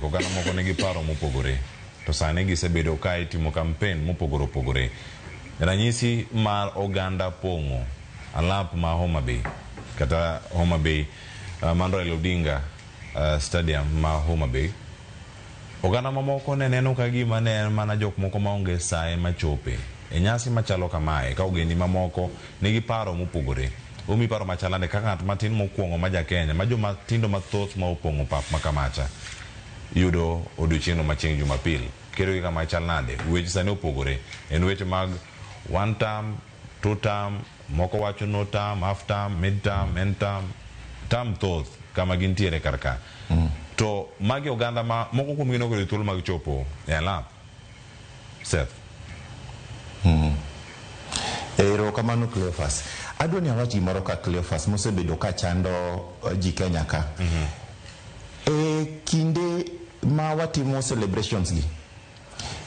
Oganda moko nigi paro mopogore, to sani gisebedo ka itimo kampen mopogore opogore. Ranyisi mar oganda pong'o alap ma Homa Bay kata Homa Bay uh, man Raila Odinga uh, Stadium ma Homa Bay. Oganda mamoko ne neno ka gima ne en mana jok moko maonge saye machope e nyasi machalo kamae ka ogendi mamoko nigi paro mopogore. Omi paro machalnade kaka ng'at matin mokuong'o ma ja Kenya ma joma tindo mathoth ma opong'o pap ma Kamacha yudo odiochieng'no ma chieng' Jumapil. Kedo gi kama chal nade? Weche sani opogore. En weche mag one term, two term, moko wacho no term, half term, mid term, end term. Term thoth kama gintiere kar ka. To magi oganda ma moko kuomgi ne ok oyudo thuolo mag chopo e alap. Seth. Mm. Ero kamano Cleophas. Adwa ni awach gimoro ka Cleophas mosebedo ka chando eh, ji Kenya ka. Mm -hmm. E kinde ma watimo celebrations gi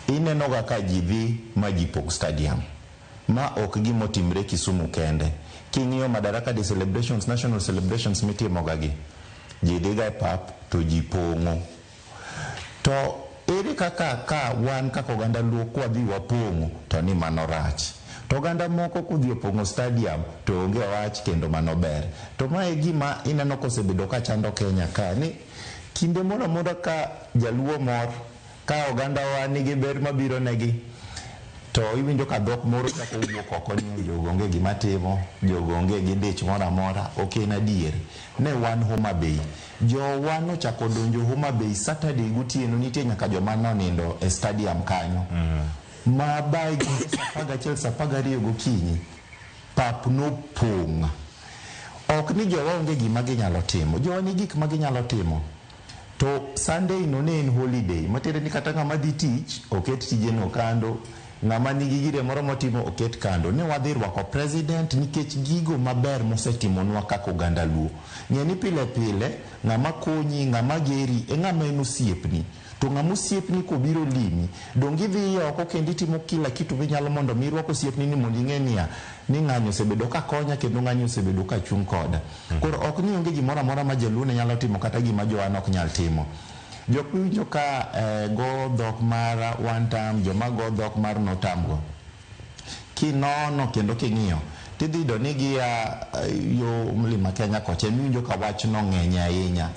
inenoga ka ji dhi ma ji pog stadium ma ok gimotimre Kisumu kende. King'iyo Madaraka Day celebrations, national celebrations mitimoga gi ji dhiga e pap to ji pong'o. To ere kaka ka wan kaka oganda Luo kwadhi wapong'o to ni mano rach. To oganda moko kodhi opong'o stadium to onge wach kendo mano ber. To ma e gima ineno kosebedo ka chando Kenya ka ni kinde moro amora ka jaluo mor, ka ogandawa nigi ber mabiro negi to iwinjo ka dhok moro chako wuok oko ni jogo onge gima timo, jogo onge gi dich moro amora. Ok en adier. Ne wan Homa Bay. Jowa nochako odonjo Homa Bay Saturday gotieno nitie nyaka joma nonindo e stadium kanyo ma by gige saa apar gachiel saa apar gariyo gokinyi pap nopong'. Ok ni jowa onge gima ginyalo timo, jowa nigi gik ma ginyalo timo to Sunday no ne en holiday matiende ni kata ng'ama dhi tich oket tijeno kando. Ng'ama nigi gire moro motimo oket kando. Ne wadhi rwako President nikech gigo maber mosetimonwa kaka oganda Luo. Ng'e ni pile pile, ng'ama konyi, ng'ama geri e ng'ama en osiepni. To ng'ama osiepni kobiro limi, donge idhiye oko kendo itimo kila kitu minyalo mondo mi irwak osiepni ni mondo ing'e niya, ni ng'ani osebedo ka konya kendo ng'ani osebedo ka chung' koda. Koro ok ni onge gimoro amora ma Jaluo ne nyalo timo kata gima Joana ok nyal timo. Jok miwinjo ka go dhok mar one term, joma go dhok mar no term go, kinono kendo king'iyo tidhi yudo ni gia yo mlima Kenya kocha emiwinjo ka wachno ng'enye ahinya.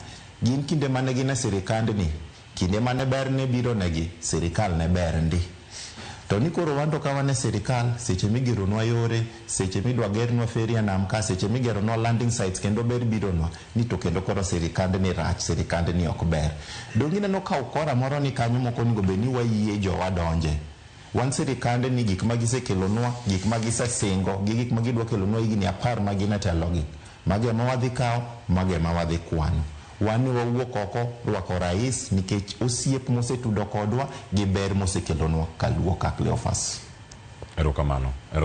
Gin kinde mane gin e sirikandni, kinde mane ber ne bironegi, sirikal ne ber ndi. To ni koro wanto ka wan e sirikal, seche migeronwa yore, seche midwa gernwa feri e nam ka seche migeronwa landing sites kendo ber bironwa ni to kendo koro sirikand ni rach sirikand ni ok ber donge ineno ka ukora moro ni kanyo moko onego bed ni wayie jowa donje wan sirikand ni gik ma gisekelonwa gik ma gisesingo gi gik ma gidwa kelonwa higni apar ma gin e telogi mago ema wadhi kawo mago ema wadhi kwano wan ne wawuok oko rwako rais nikech osiep mosetudo kodwa gi ber mosekelonwa kaluwo ka Cleophas. Erokamano. Erokamano.